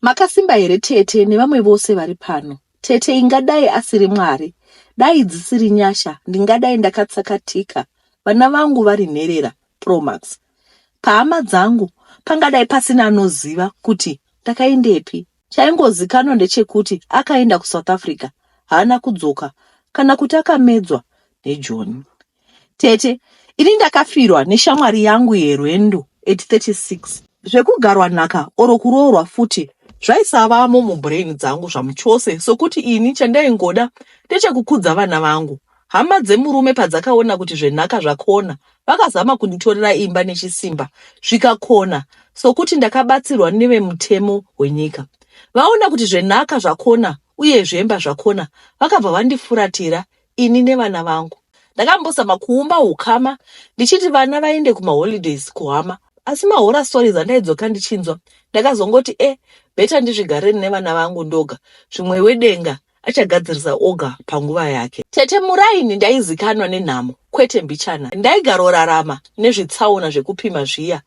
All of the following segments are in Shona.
Makasimba here tete nevamwe vose vari pano? Tete ingadai asiri Mwari. Dai dzisiri nyasha ndingadai ndakatsakatika vana vangu vari nherera Promax. Pahama dzangu pangadai pasina anoziva kuti ndakaendepi. Chaingozikanwa ndechekuti akaenda kuSouth Africa haana kudzoka kana kuti akamedzwa neJoni. Tete, ini ndakafirwa neshamwari yangu yerwendo at 36. Zvekugarwa nhaka or kuroorwa futi zvaisavamo mubrain dzangu zvamuchose sokuti ini chandaingoda ndechekukudza vana vangu. Hama dzemurume padzakaona kuti zvenhaka zvakona vakazama kunditorera imba nechisimba zvikakona sokuti ndakabatsirwa nevemutemo wenyika. Vaona kuti zvenhaka zvakona uye zvemba zvakona vakabva vandifuratira ini nevana vangu. Ndakambozama kuumba hukama ndichiti vana vaende kumaholidays kuhama asi mahora stories andaidzoka ndichinzwa ndakazongoti e eh, beta ndizvigareni nevana vangu ndoga zvimwe wedenga achagadzirisa oga panguva yake. Tete Muraini ndaizikanwa nenhamo kwete mbichana. Ndaigarorarama nezvitsaona zvekupima zviya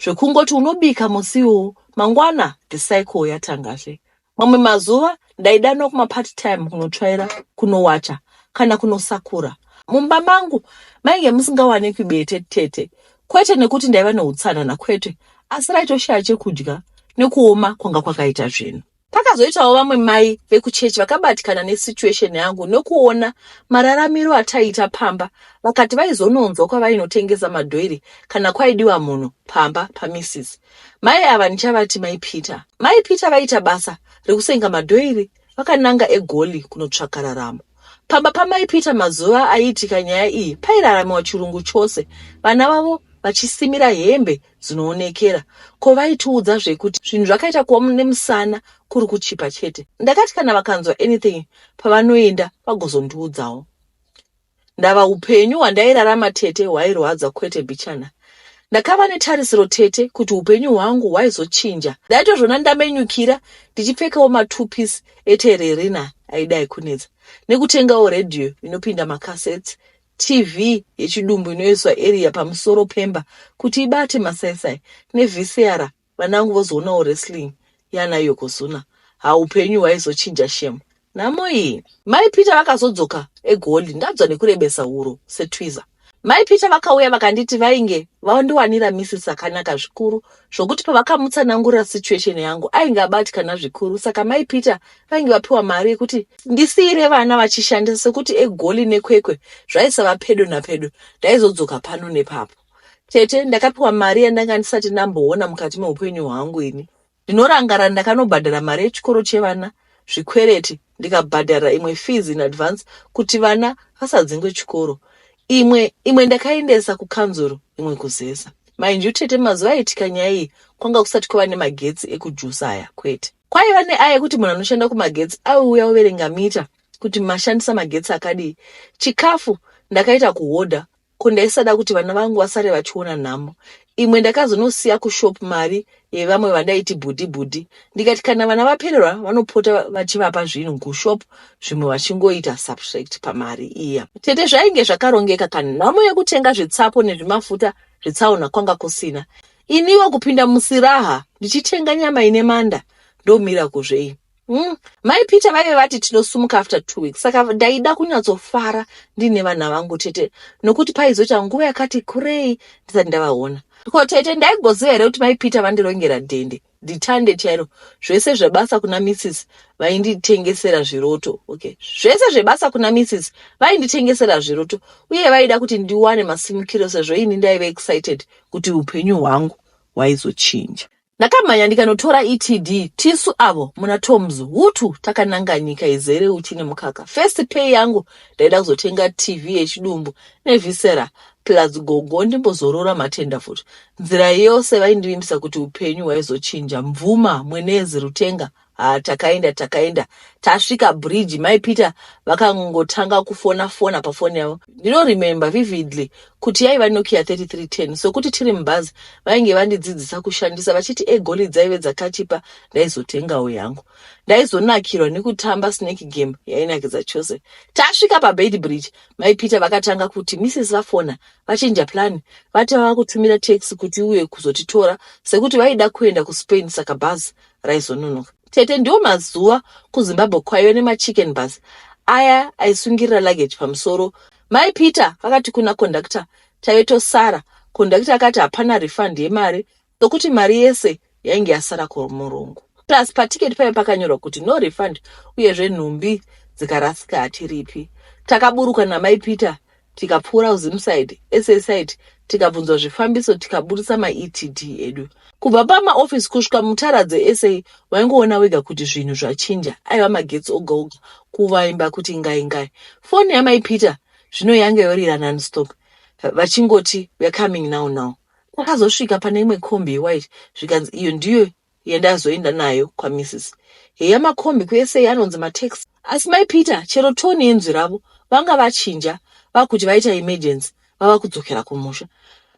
zvekungoti unobika musi uwu mangwana the cycle yatangazve. Mamwe mazuva ndaidanwa kumapart time kunotsvaira, kunowacha kana kunosakura. Mumba mangu mainge musingawanikwi bete tete, kwete nekuti ndaiva neutsanana kwete, asi raitoshaya chekudya nekuoma kwanga kwakaita zvinhu. Pakazoitawo vamwe mai vekuchechi vakabatikana nesituation yangu nokuona mararamiro ataiita pamba vakati vaizononzwa kwavainotengesa madhoiri kana kwaidiwa munhu pamba pamisisi. Mai ava ndichavati mai Peter. Mai Peter vaiita basa rekusenga madhoiri vakananga eGoli kunotsvaka raramo. Pamba pamai Peter mazuva aiitika nyaya iyi pairaramiwa chirungu chose, vana vavo vachisimira hembe dzinoonekera. Ko vaitiudza zvekuti zvinhu zvakaita kuva nemusana kuri kuchipa chete. Ndakati kana vakanzwa anything pavanoenda vagozondiudzawo. Ndava hupenyu hwandairarama tete hwairwadza kwete bichana. Ndakava netarisiro tete kuti hupenyu hwangu hwaizochinja. Ndaitozvona ndamenyukira ndichipfekawo matupis etererina aidai kunetsa nekutengawo radio inopinda macassettes, TV yechidumbu inoiswa area pamusoro pemba kuti ibate masaisai nevhisiara Vana vangu vozoonawo wrestling yana Yokozuna. Ha upenyu hwaizochinja shem. Nhamo iyi. Mai Peter vakazodzoka eGoli ndabzwa nekurebesa huro setwiza. Mai Peter vakauya vakanditi vainge vandiwanira missis akanaka zvikuru zvokuti pavakamutsanangurira situation yangu ainge abatikana zvikuru saka mai Peter vainge vapiwa mari yekuti ndisiire vana vachishandisa sekuti eGoli neKwekwe zvaisava pedo napedo ndaizodzoka pano nepapo. Tete, ndakapiwa mari yandanga ndisati ndamboona mukati meupenyu hwangu ini. Ndinorangara ndakanobhadhara mari yechikoro chevana, zvikwereti, ndikabhadhara imwe fees in advance kuti vana vasadzingwe chikoro. Imwe, imwe ndakaendesa kukanzuru, imwe kuzesa. Mind you tete mazuva aitika nyaya iyi kwanga kusati kwava nemagetsi ekujusa aya kwete. Kwaiva neaya yekuti munhu anoshanda kumagetsi aiuya overenga mita kuti mashandisa magetsi akadii. Chikafu ndakaita kuhodha ko ndaisada kuti vana vangu vasare vachiona nhamo imwe ndakazonosiya kushop mari yevamwe vandaiti bhudhi bhudhi ndikati kana vana vapererwa vanopota vachivapa zvinhu kushop zvimwe vachingoita subtract pamari iya tete zvainge zvakarongeka kana nhamo yekutenga zvitsapo nezvimafuta zvitsaona kwanga kusina iniwo kupinda musiraha ndichitenga nyama ine manda ndomira kuzvei Hmm. Mai Peter vaive vati tinosumuka after two weeks saka ndaida kunyatsofara ndiine vana vangu tete nokuti paizoita nguva yakati kurei ndisati ndavaona. Ko tete ndaigoziva here kuti mai Peter vandirongera dhende ndithande chairo zvese zvebasa kuna Mrs vainditengesera zviroto okay zvese zvebasa kuna Mrs vainditengesera zviroto uye vaida kuti ndiwane masimukiro sezvo ini ndaive excited kuti upenyu hwangu hwaizochinja. Ndakamhanya ndikanotora ETD tisu avo muna Toms hutu takananga nyika izere uchi nemukaka. First pay yangu ndaida kuzotenga TV yechidumbu nevisera plus gogo ndimbozorora matenda futi. Nzira yose vaindivimbisa kuti upenyu hwaizochinja. Mvuma, mwenezi, rutenga Ah, takaenda takaenda tasvika bridge mai peter vakangotanga kufona fona pafoni yavo ndinoremember vividly kuti yaiva nokia 3310 sokuti tiri mubhazi vainge vandidzidzisa kushandisa vachiti egoli dzaive dzakachipa ndaizotengawo yangu ndaizonakirwa nekutamba snake game yainakidza chose tasvika pabed bridge mai peter vakatanga kuti misses vafona vachinja plani vati vava kutumira taxi kuti uye kuzotitora sekuti vaida kuenda kuspain saka bhazi raizononoka. Tete ndiwo mazuva kuZimbabwe kwaive nemachicken bus aya aisungirira luggage pamusoro. Mai Peter vakati kuna conductor taive tosara. Conductor akati hapana refund yemari sokuti mari yese yainge yasara kumurungu. Plus paticket paive pakanyorwa kuti no refund uyezve nhumbi dzikarasika hatiripi. Takaburuka namai Peter tikapfuura kuZim side, SA side tikabvunzwa zvifambiso tikaburitsa maETD edu. Kubva pamaofisi kusvika mutara dzeSA waingoona wega kuti zvinhu zvachinja, aiva magetsi oga oga, kuvaimba kuti ingai ingai. Foni yamai Peter zvino yanga yorira nonstop vachingoti we're coming now now. Takazosvika pane imwe kombi yewhite zvikanzi iyo ndiyo yandazoenda nayo kwaMrs Heya makombi kuSA anonzi matax asi mai Peter chero tone yenzwi ravo vanga vachinja vakuti vaita emergency vava kudzokera kumusha.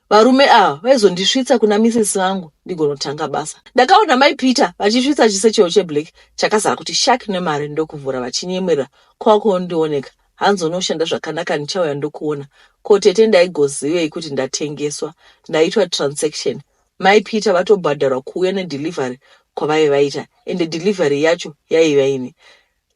Varume ava vaizondisvitsa kuna misisi vangu ndigonotanga basa. Ndakaona mai Peter vachisvitsa chisechero cheblack chakazara kuti shark nemari ndokuvhura vachinyemwerera kwakunondioneka hanzi unoshanda zvakanaka ndichauya ndokuona ko tete ndaigozivei kuti ndatengeswa ndaitwa transaction Mai Peter vatobhadharwa kuuya ne delivery kwavaive vaita ende delivery yacho yaiva ine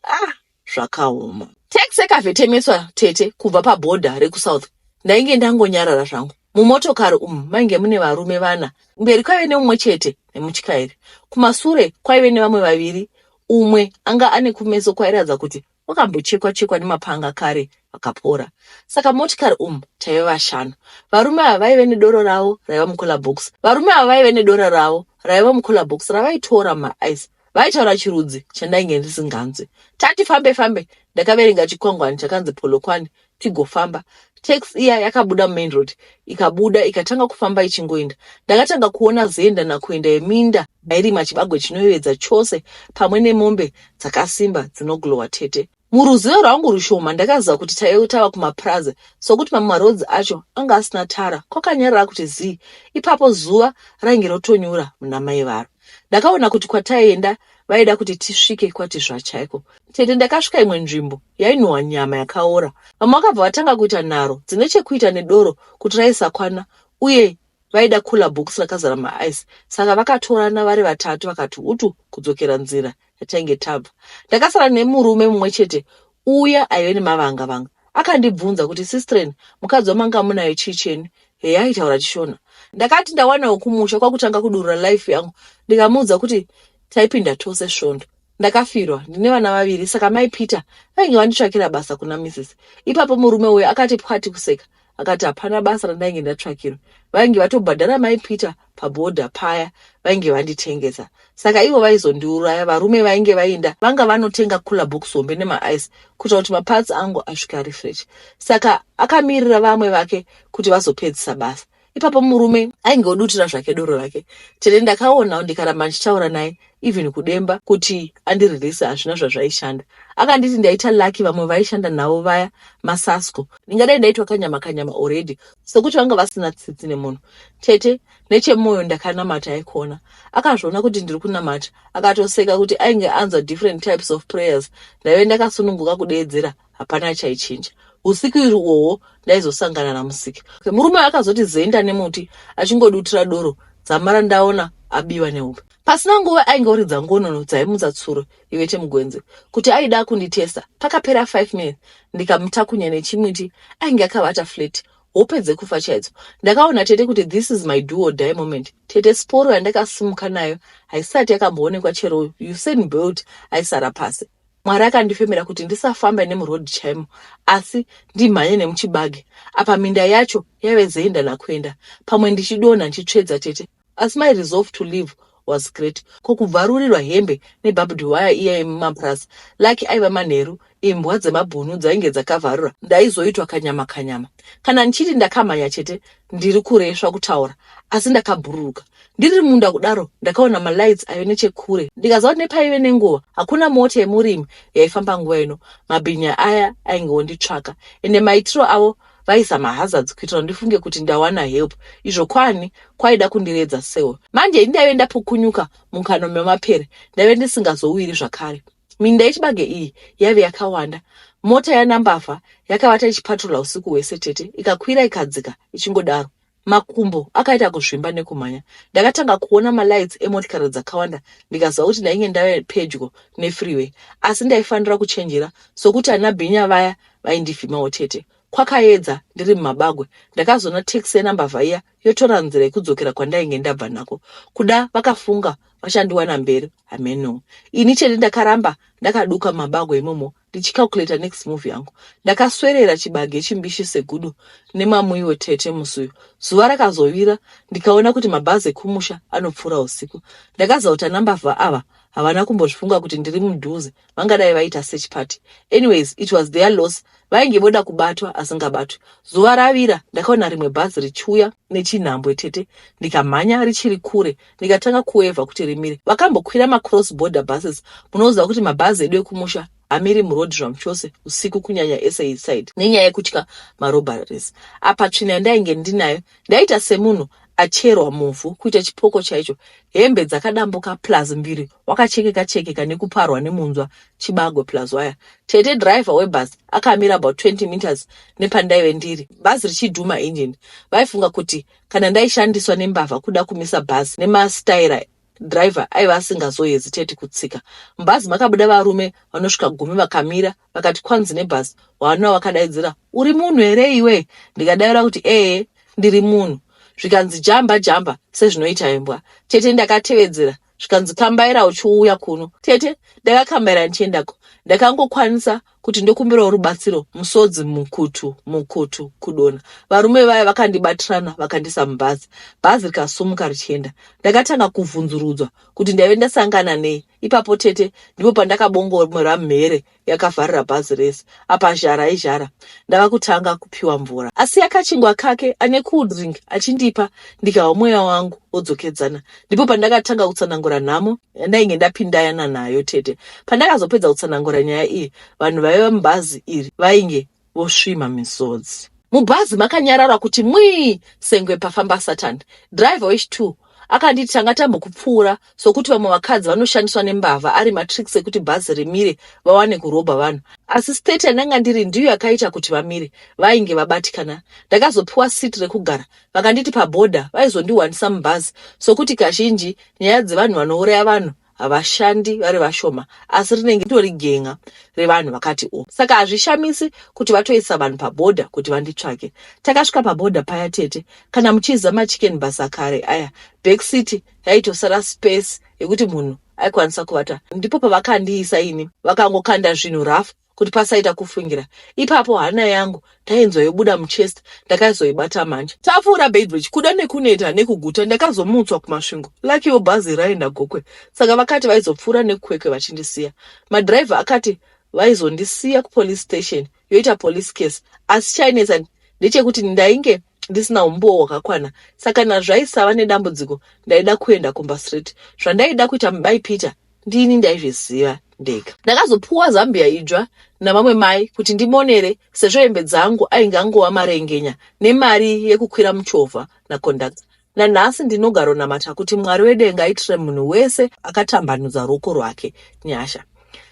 ah zvakaoma. Tax yakavhetemeswa tete kubva pa border reku south ndainge ndangonyarara zvangu. Mumotokari umu mainge mune varume vana, kumberi kwaive neumwe chete nemutyairi. Kumasure kwaive nevamwe vaviri umwe anga ane kumeso kwairatidza kuti wakambochekwa chekwa nemapanga kare vakapora saka motikari umu taive vashanu varume ava vaive nedoro ravo raiva mucola box varume ava vaive nedoro ravo raiva mucola box ravaitora maaice vaitaura chirudzi chandainge ndisinganzwi tati fambe fambe ndakaverenga chikwangwani chakanzi polokwane tigofamba tax iya yakabuda mumain road ikabuda ikatanga kufamba ichingoenda ndakatanga kuona zenda nakuenda yeminda mairima chibagwe chinoyevedza chose pamwe nemombe dzakasimba dzinoglowa tete muruzivo rwangu rushoma ndakaziva kuti taive tava kumapurazi sokuti mamwe marodzi acho anga asina tara kwakanyarara kuti zii ipapo zuva rainge rotonyura muna mai varo ndakaona kuti kwataienda vaida kuti tisvike kwatizva chaiko tete ndakasvika imwe nzvimbo yainhuhwa nyama yakaora vamwe vakabva vatanga kuita nharo dzine chekuita nedoro kuti raisakwana uye vaida kula bhokisi rakazara maaice saka vakatorana vari vatatu vakati utu kudzokera nzira tatange tabva ndakasara nemurume mumwe chete uya aive nemavanga vanga akandibvunza kuti sistren mukadzi wamanga munayo chii chenu heya aitaura chishona ndakati ndawanawo kumusha kwakutanga kudurura life yangu ndikamuudza kuti taipinda tose svondo ndakafirwa ndine vana vaviri saka mai peter vainge vanditsvakira basa kuna misisi ipapo murume uyo akati pwati kuseka akati hapana basa randainge ndatsvakirwa vainge vatobhadhara mai peter pabhodha paya vainge vanditengesa saka ivo vaizondiuraya varume vainge vainda vanga vanotenga cooler box hombe nemaice kuita kuti maparts angu asvika ari fresh saka akamirira vamwe vake kuti vazopedzisa basa ipapo murume ainge odutira zvake doro rake tete ndakaonawo ndikaramba ndichitaura naye even kudemba kuti andirelease hazvina zvazvaishanda akanditi ndaita lucky vamwe vaishanda navo vaya masasco ndingadai ndaitwa kanyama kanyama already sekuti vanga vasina tsitsi nemunhu tete nechemoyo ndakanamata aikona akazviona kuti ndiri kunamata akatoseka kuti ainge anzwa different types of prayers ndaive ndakasununguka kudeedzera hapana chaichinja usiku iri uwowo ndaizosangana namusiki murume akazoti zenda nemuti achingodutira doro dzamara ndaona abiwa nehope Pasina nguva ainge oridza ngonono dzaimutsa tsuro ive chemugwenzi kuti aida kunditesa. Pakapera 5 minutes ndikamutakunya nechimuti ainge akabata flat hope dzekufa chaidzo. Ndakaona tete kuti this is my duo die moment. Tete sporo yandakasimuka nayo haisati yakamboonekwa chero Usain Bolt aisara pasi. Mwari akandifemera kuti ndisafambe nemuroad chaimo asi ndimhanye nemuchibage. Apa minda yacho yave zeyenda nakuenda pamwe ndichidonha ndichitsvedza tete Asi my resolve to live was great ko kubvarurirwa hembe nebhabhudhi waya iya yemumapurasi lucky aiva manheru imbwa dzemabhunu dzainge dzakavharura ndaizoitwa kanyama kanyama kana ndichiti ndakamhanya chete ndiri kuresva kutaura asi ndakabhururuka ndiri munda kudaro ndakaona malights ayo nechekure ndikaziva kuti nepaive nenguva hakuna mota yemurimi yaifamba nguva ino mabhinya aya ainge onditsvaka ende maitiro avo vaisa mahazards kuitira kuti ndifunge kuti ndawana help izvo kwani kwaida kundiredza sewo manje ini ndaive ndapukunyuka mukano memapere ndaive ndisingazowiri zvakare minda yechibage iyi yaive yakawanda mota yanambavha yakavata ichipatrola usiku hwese tete ikakwira ikadzika ichingodaro Makumbo akaita kuzvimba nekumhanya. Ndakatanga kuona malights emotikari dzakawanda ndikaziva kuti ndainge ndave pedyo nefreeway asi ndaifanira kuchenjera sokuti ana bhinya vaya vaindivhimawo chete. Kwakaedza ndiri mumabagwe ndakazoona taxi yenambavha iya yotora nzira yekudzokera kwandainge ndabva nako. Kuda vakafunga vachandiwana mberi hameno. Ini chete ndakaramba ndakaduka mumabagwe imomo ndichicalculator next move yangu ndakaswerera chibage chimbishi segudo nemamuiwo tete musi uyu zuva rakazovira ndikaona kuti mabhazi ekumusha anopfuura usiku ndakazauta nambavha ava havana kumbozvifunga kuti ndiri mudhuze vangadai vaita search party anyways it was their loss vainge voda kubatwa asingabatwi zuva ravira ndakaona rimwe bhazi richiuya nechinhambwe tete ndikamhanya richiri kure ndikatanga kuwevha kuti rimire. Vakambokwira macross border buses, munoziva kuti mabhazi edu ekumusha hamiri muroad zvamuchose usiku kunyanya ese inside nenyaya yekutya marobaries. Apa tsvina yandainge ndinayo ndaita semunhu acherwa muvhu kuita chipoko chaicho hembe dzakadambuka plus mbiri wakachekeka chekeka nekuparwa nemunzwa chibagwe plus waya tete driver webus akamira about 20 meters nepandaive ndiri bhazi richidhuma engine vaifunga kuti Kana ndaishandiswa nembavha kuda kumisa bhazi nemastaira driver aiva asingazoheziteti kutsika mubhazi makabuda varume vanosvika gumi vakamira vakati kwanzi nebhazi wanwa wakadaidzira uri munhu here iwe ndikadaira kuti ee ndiri munhu zvikanzi jamba jamba sezvinoita imbwa tete ndakatevedzera zvikanzi kambaira uchiuya kuno tete ndakakambaira ndichiendako ndakangokwanisa kuti ndokumbirawo rubatsiro musodzi mukutu mukutu kudona varume vaya vakandibatirana vakandisa mubhazi bhazi rikasumuka richienda ndakatanga kuvhunzurudzwa kuti ndaive ndasangana nei ipapo tete ndipo pandakabongomora mhere yakavharira bhazi rese apa zhara izhara ndava kutanga kupiwa mvura asi yakachingwa kake ane cool drink achindipa ndikahwa mweya wangu wodzokedzana ndipo pandakatanga kutsanangura nhamo yandainge ndapindayana nayo tete pandakazopedza kutsanangura nyaya iyi vanhu vaiva mubhazi iri vainge vosvima misodzi. Mubhazi makanyarara kuti mwii sengwe pafamba Satan. Driver wechi two akanditi tanga tambokupfuura sokuti vamwe vakadzi vanoshandiswa nembavha ari matricks ekuti bhazi rimire vawane kurobha vanhu asi state yandanga ndiri ndiyo yakaita kuti vamire vainge vabatikana ndakazopiwa seat rekugara vakanditi paboda vaizondiwanisa mubhazi sokuti kazhinji nyaya dzevanhu vanouraya vanhu havashandi vari vashoma asi rinenge ritori gen'a revanhu vakati o saka hazvishamisi kuti vatoisa vanhu pabhodha kuti vanditsvake takasvika pabhodha paya tete kana muchiziva machicken bus akare aya back city yaitosara space yekuti munhu aikwanisa kuvata ndipo pavakandiisa ini vakangokanda zvinhu rafu kuti pasaita kufungira ipapo hana yangu tainzwa yobuda muchest ndakaizoibata manje tapfuura beidbridge kuda nekuneta nekuguta ndakazomutswa kumasvingo lakiwo bhazi raenda gokwe saka vakati vaizopfuura nekukwekwe vachindisiya madhiraivha akati vaizondisiya kupolice station yoita police case asi chainetsa ndechekuti ndainge ndisina umbowo hwakakwana saka nazvaisava nedambudziko ndaida kuenda kumba straight zvandaida kuita mubai peter ndini ndaizviziva ndega ndakazopuwa zambia idzva navamwe mai kuti ndimonere sezvo hembe dzangu ainge angova marengenya nemari yekukwira muchovha naconductor Nanhasi ndinogaronamata kuti Mwari wedenga aitire munhu wese akatambanudza ruoko rwake nyasha.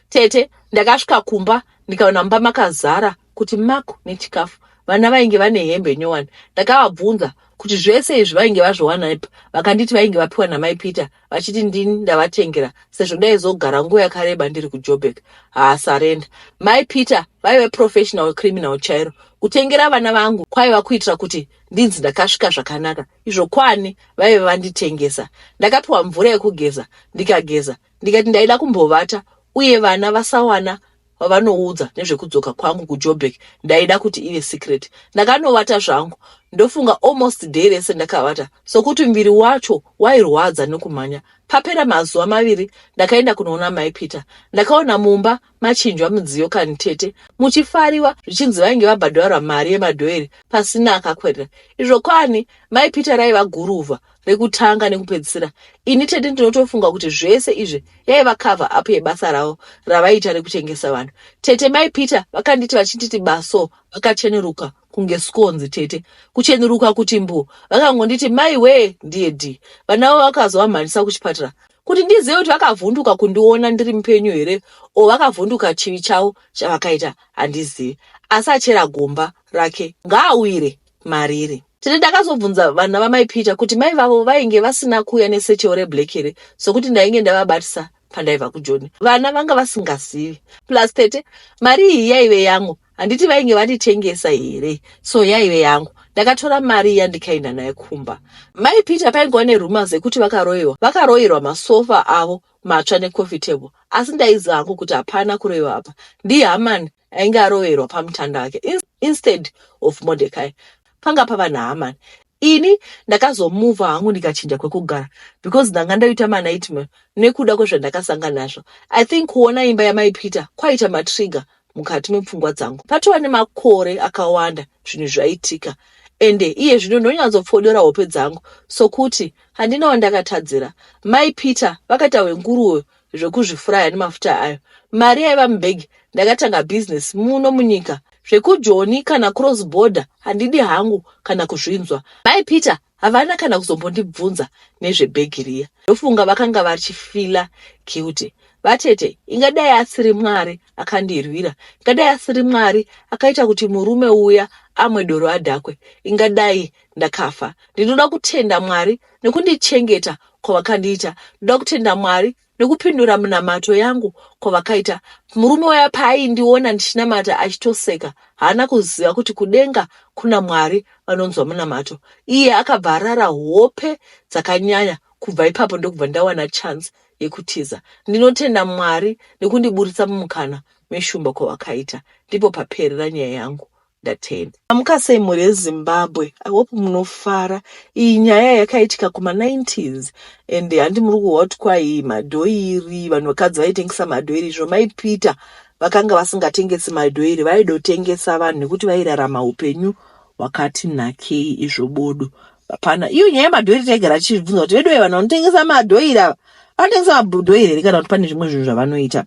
Tete, ndakasvika kumba ndikaona mumba makazara kuti maku nechikafu. Vana vainge vane hembe nyowani. Ndakavabvunza kuti zvese izvi vainge vazviwanaipa. Vakanditi vainge vapiwa namai Peter vachiti ndini ndavatengera sezvo ndaizogara nguva yakareba ndiri kuJobek. Haa sarenda. Mai Peter vaive professional criminal chairo. Kutengera vana vangu kwaiva kuitira kuti ndinzi ndakasvika zvakanaka izvo kwani vaive vanditengesa ndakapiwa mvura yekugeza ndikageza ndikati ndaida kumbovata uye vana vasawana vavanoudza nezvekudzoka kwangu kujobek ndaida kuti ive secret ndakanovata zvangu ndofunga almost day rese ndakavata sokuti muviri wacho wairwadza nekumhanya papera mazuva maviri ndakaenda kunoona mai peter ndakaona mumba machinjwa mudziyo kani tete muchifariwa zvichinzi vainge vabhadharwa mari yemadhoeri pasina akakwerera izvo kwani mai peter raiva guruva rekutanga nekupedzisira ini tete ndinotofunga kuti zvese izvi yaiva cover up yebasa ravo ravaiita rekutengesa vanhu tete mai peter vakanditi vachinditi baso vakachenuruka kunge skonzi tete kuchenuruka kuti mbu vakangonditi mai wee ndiye d vanavo vakazovamhanyisa kuchipatara kuti ndizive kuti vakavhunduka kundiona ndiri mupenyu here o vakavhunduka chivi chavo chavakaita handizivi asi achera gomba rake ngaawire mariri tete ndakazobvunza vana vamai peter kuti mai vavo vainge vasina kuuya nesecheo reblack here sokuti ndainge ndavabatisa pandaiva kujoni vana vanga vasingazivi plus tete mari iyi yaive yangu handiti vainge vanditengesa here so yaive yangu ndakatora mari iya ndikaenda naye kumba mai peter paingova neruma zekuti vakaroiwa vakaroirwa masofa avo matsva necoffee table asi ndaiziva hangu kuti hapana kuroiwa apa ndihamani ainge aroverwa pamutanda wake instead of modecai panga pava nahamani ini ndakazomuvha hangu ndikachinja kwekugara because ndanga ndoita manightmare nekuda kwezvandakasanga nazvo i think kuona imba yamai peter kwaita matrigger mukati mepfungwa dzangu patova nemakore akawanda zvinhu zvaitika ende iye zvino ndonyanzopfodora hope dzangu sokuti handina wandakatadzira mai peter vakaita hwenguruwo zvekuzvifuraya nemafuta ayo mari yaiva mubhegi ndakatanga bhizinesi muno munyika zvekujoni kana cross border handidi hangu kana kuzvinzwa mai peter Havana kana kuzombondibvunza nezvebhegi riya. Ndofunga vakanga vachifila guilty. Vatete, ingadai asiri Mwari akandirwira. Ingadai asiri Mwari akaita kuti murume uya amwe doro adhakwe. Ingadai ndakafa. Ndinoda kutenda Mwari nekundichengeta kwavakandiita. Ndoda kutenda Mwari nekupindura munamato yangu kwavakaita murume waya paaindiona ndichinamata achitoseka haana kuziva kuti kudenga kuna mwari vanonzwa munamato iye akabva arara hope dzakanyanya kubva ipapo ndokubva ndawana chance yekutiza ndinotenda mwari nekundiburitsa mumukana meshumba kwavakaita ndipo paperera nyaya yangu ndatenda. Amukasei mhuri yeZimbabwe I hope munofara iyi nyaya yakaitika kuma 90s and handi muri kuhwa kuti kwai madhoiri vanhu vakadzi vaitengesa madhoiri izvo mai Peter vakanga vasingatengesi madhoiri vaidotengesa vanhu nekuti vairarama upenyu wakati nakei izvo bodo hapana iyo nyaya yemadhoiri taigara tichibvunza kuti veduwe vanhu vanotengesa madhoiri ava vanotengesa madhoiri here kana kuti pane zvimwe zvinhu zvavanoita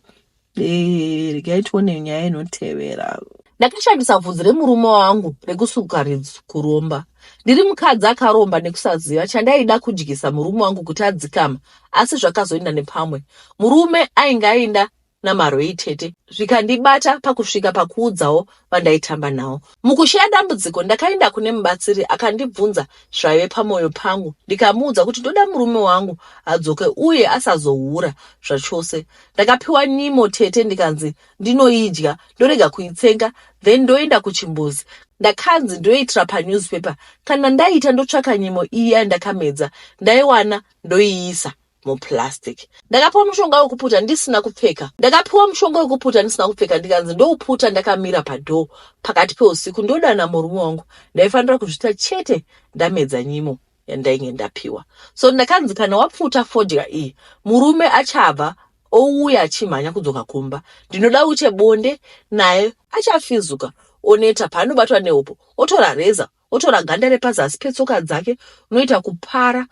Eh, regai tione nyaya inotevera ndakashandisa bvudzi remurume wangu rekusuka ridzi kuromba ndiri mukadzi akaromba nekusaziva chandaida kudyisa murume wangu kuti adzikama asi zvakazoenda nepamwe murume ainge aenda namarwei tete zvikandibata pakusvika pakuudzawo vandaitamba nawo mukusheya dambudziko ndakaenda kune mubatsiri akandibvunza zvaive pamwoyo pangu ndikamuudza kuti ndoda murume wangu adzoke uye asazohura zvachose Ndakapiwa nyimo tete ndikanzi ndinoidya ndorega kuitsenga then ndoenda kuchimbuzi. Ndakanzi ndoitira panewspaper kana ndaita ndotsvaka nyimo iya yandakamedza ndaiwana ndoiisa muplastic. Ndakapiwa mushonga wekuputa ndisina kupfeka. Ndakapiwa mushonga wekuputa ndisina kupfeka ndikanzi ndouputa ndakamira padoor pakati peusiku ndodana murume wangu. Ndaifanira kuzvita chete ndamedza nyimo. yandainge ndapiwa so ndakanzi kana wapfuta fodya iyi murume achabva ouya achimhanya kudzoka kumba ndinoda uche bonde naye achafizuka oneta paanobatwa nehopo otora reza otora ganda repazasi petsoka dzake unoita kupara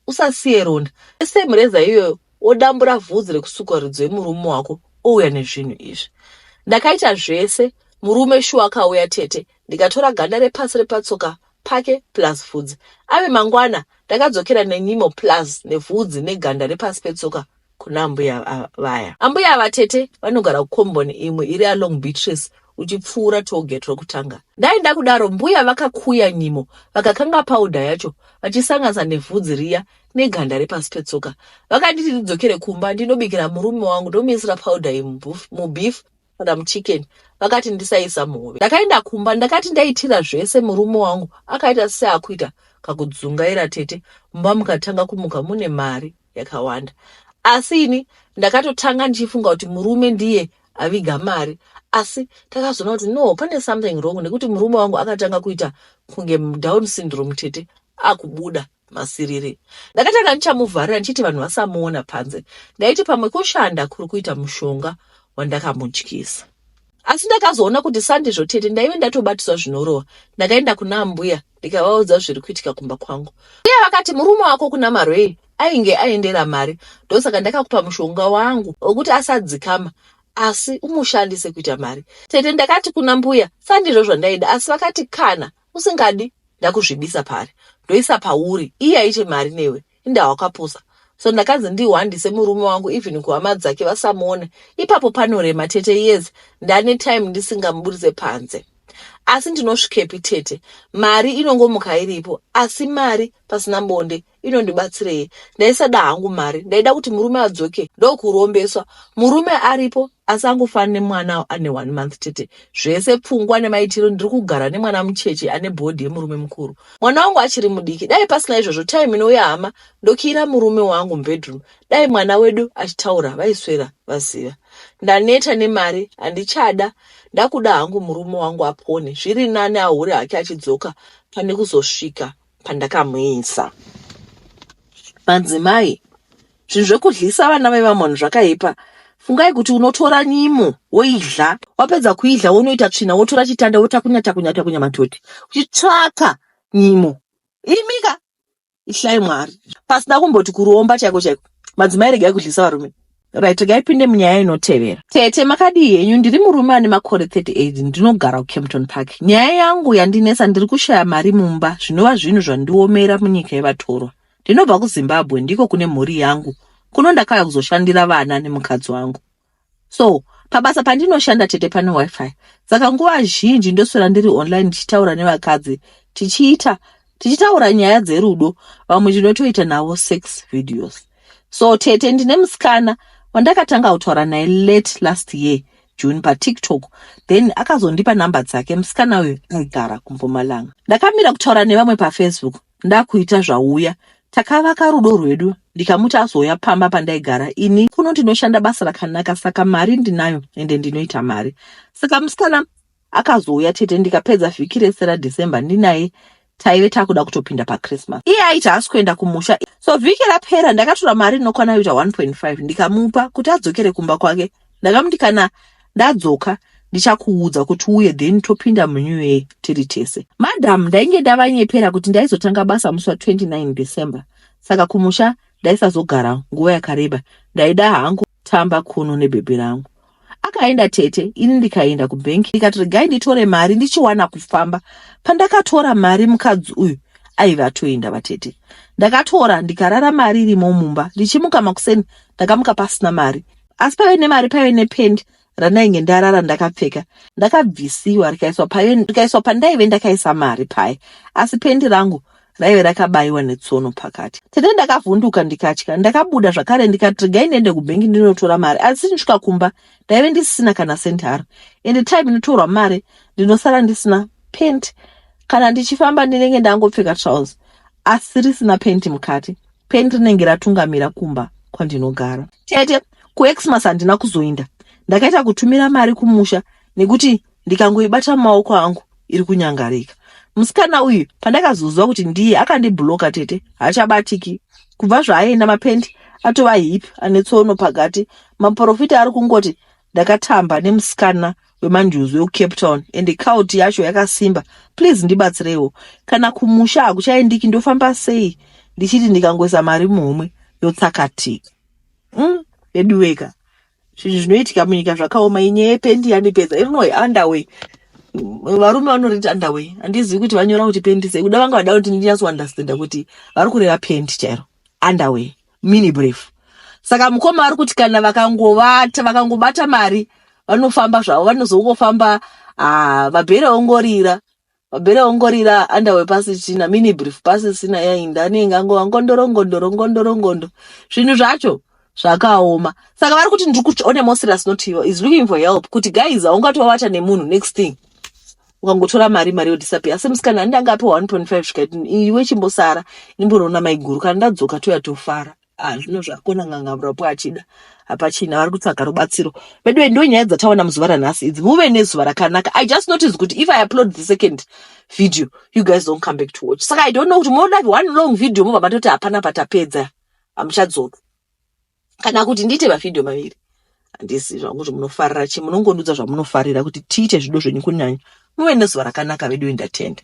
usasiye ronda esem reza iyoyo odambura vhudzi rekusukwa ridzo yemurume wako ouya nezvinhu izvi ndakaita zvese murume shuwa akauya tete ndikatora ganda repasi repatsoka pake plus vhudzi. Ave mangwana ndakadzokera nenyimo plus nevhudzi neganda repasi petsoka kuna ambuya vaya. Ambuya ava tete vanogara kukomboni imwe iri along Beatrice uchipfuura toget rokutanga. Dai ndakudaro mbuya vakakuya nyimo vakakanga paudha yacho vachisanganisa nevhudzi riya neganda repasi petsoka. Vakanditi ndidzokere kumba ndinobikira murume wangu ndomuisira paudha iyi mubeef madam chicken vakati ndisaisa muhove ndakaenda kumba ndakati ndaitira zvese murume wangu akaita seakuita kakudzungaira tete mumba mukatanga kumuka mune mari yakawanda asi ini ndakatotanga ndichifunga kuti murume ndiye aviga mari asi takazoona kuti no pane something wrong nekuti murume wangu akatanga kuita kunge down syndrome tete akubuda masiriri. Ndakatanga ndichamuvharira ndichiti vanhu vasamuona panze. Ndaiti pamwe kushanda kuri kuita mushonga wandakamudyisa. Asi ndakazoona kuti sandizvo tete ndaive ndatobatiswa zvinorova. Ndakaenda kuna ambuya ndikavaudza zviri kuitika kumba kwangu. Mbuya vakati murume wako kuna Marwei ainge aendera mari ndosaka ndakakupa mushonga wangu wekuti asadzikama asi umushandise kuita mari. Tete ndakati kuna mbuya sandizvo zvandaida asi vakati kana usingadi ndakuzvibisa pari ndoisa pauri iye aite mari newe inda wakapusa so ndakanzi ndihwandise murume wangu even kuhama dzake vasamuone ipapo panorema tete yes ndane time ndisingamuburitse panze asi ndinosvikepi tete mari inongomuka iripo asi mari pasina bonde inondibatsirei ndaisada hangu mari ndaida kuti murume adzoke ndokurombeswa murume aripo asi angofana nemwana ane one month chete zvese pfungwa nemaitiro ndiri kugara nemwana mucheche ane bhodhi yemurume mukuru mwana wangu achiri mudiki dai pasina izvozvo time inouya hama ndokiira murume wangu mubedroom dai mwana wedu achitaura vaiswera vaziva ndaneta nemari handichada ndakuda hangu murume wangu apone zviri nani ahure hake achidzoka pane kuzosvika pandakamuisa. Madzimai, zvinhu zvekudlisa vana vevamoni zvakaipa. Fungai kuti unotora nyimo woidla, wapedza kuidla wonoita tsvina wotora chitanda wotakunya takunya takunya matoti uchitsvaka nyimo. Imika ityai Mwari. Pasina kumboti kuromba chaiko chaiko. Madzimai regai kudlisa varume. Right, ngaipinde munyaya inotevera. Tete, makadii henyu? Ndiri murume ane makore 38 ndinogara kuCampton Park. Nyaya yangu yandinetsa ndiri kushaya mari mumba zvinova zvinhu zvandiomera munyika yevatorwa. Ndinobva kuZimbabwe ndiko kune mhuri yangu. Kuno ndakauya kuzoshandira vana nemukadzi wangu. So, pabasa pandinoshanda tete pane wifi. Saka nguva zhinji ndoswera ndiri online ndichitaura nevakadzi tichiita tichitaura nyaya dzerudo vamwe tinotoita navo sex videos so tete ndine musikana wandakatanga kutaura naye late last year june patiktok then akazondipa nhamba dzake musikana uyo aigara kumpumalanga ndakamira kutaura nevamwe pafacebook ndakuita zvauya takavaka rudo rwedu ndikamuti azouya pamba pandaigara ini kuno ndinoshanda basa rakanaka saka mari ndinayo ende ndinoita mari saka musikana Akazouya tete ndikapedza vhiki rese raDecember ndinaye taive takuda kutopinda pachristmas iye aiti haasi kuenda kumusha so vhiki rapera ndakatora mari inokwana yoita 1.5 ndikamupa kuti adzokere kumba kwake ndakamuti kana ndadzoka ndichakuudza kuti uye then topinda munew year tiri tese madam ndainge ndavanyepera kuti ndaizotanga basa musi wa 29 december saka kumusha ndaisazogara nguva yakareba ndaida hangu tamba kuno nebhebhi rangu akaenda tete ini ndikaenda kubhenki ndikati regai nditore mari ndichiwana kufamba pandakatora mari mukadzi uyu aiva atoenda vatete ndakatora ndikarara mari irimo mumba ndichimuka makuseni ndakamuka pasina mari asi paive nemari paive nependi randainge ndarara ndakapfeka ndakabvisiwa rikaiswa payo rikaiswa pandaive ndakaisa mari paye asi pendi rangu raive rakabaiwa netsono pakati tete ndakavhunduka ndikatya ndakabuda zvakare ndikati regai ndiende kubhengi ndinotora mari asi ndisvika kumba ndaive ndisisina kana sendi haro ende time inotorwa mari ndinosara ndisina pent kana ndichifamba ndinenge ndangopfeka trouse asi risina penti mukati Pen rinenge ratungamira kumba kwandinogara. Tete, kuXmas handina kuzoinda. Ndakaita kutumira mari kumusha nekuti ndikangoibata mumaoko angu iri kunyangarika. Musikana uyu pandakazoziva kuti ndiye akandibloka tete haachabatiki. Kubva zvaaenda mapendi atova hip ane tsono pakati. Maporofita ari kungoti ndakatamba nemusikana wemanjuzu wekucape town ende kauti yacho yakasimba please ndibatsireiwo kana kumusha hakuchaendiki ndofamba sei ndichiti ndikangoisa mari muhomwe yotsakatika mm, veduweka zvinhu zvinoitika munyika zvakaoma inyaya yependi yandipedza irinoy underway varume vanoriti underway handizivi kuti vanyora kuti pendi sei kuda vanga vada kuti ndinyatsouunderstanda kuti vari kureva pendi chairo underway mini brief saka mukoma ari kuti kana vakangovata vakangobata mari vanofamba zvavo vanozongofamba ah, mabhere ongorira mabhere ongorira andawe pasi china mini brief pasi sina yainda anenge angova ngondoro ngondoro ngondoro ngondo zvinhu zvacho zvakaoma saka vari kuti ndiri kuti one mosirus not you is looking for help kuti guys haungatovata nemunhu next thing ukangotora mari mari yodisappear asi musikana ani ndanga apiwa 1.5 zvikaiti iwe chimbosara ndimbonoona maiguru kana ndadzoka toya tofara ah zvino zvako nanganga murapo achida hapachina vari kutsvaga rubatsiro veduwe ndo nyaya dzataona muzuva ranhasi idzi muve nezuva rakanaka i just notice kuti if i upload the second video you guys don't come back to watch saka i don't know kuti munoda one long video mobva matoti hapana patapedza hamuchadzoka kana kuti ndiite mavhidhiyo maviri handisi zvangu kuti munofarira chi munongondiudza zvamunofarira kuti tiite zvido zvenyu kunyanya muve nezuva rakanaka veduwe ndatenda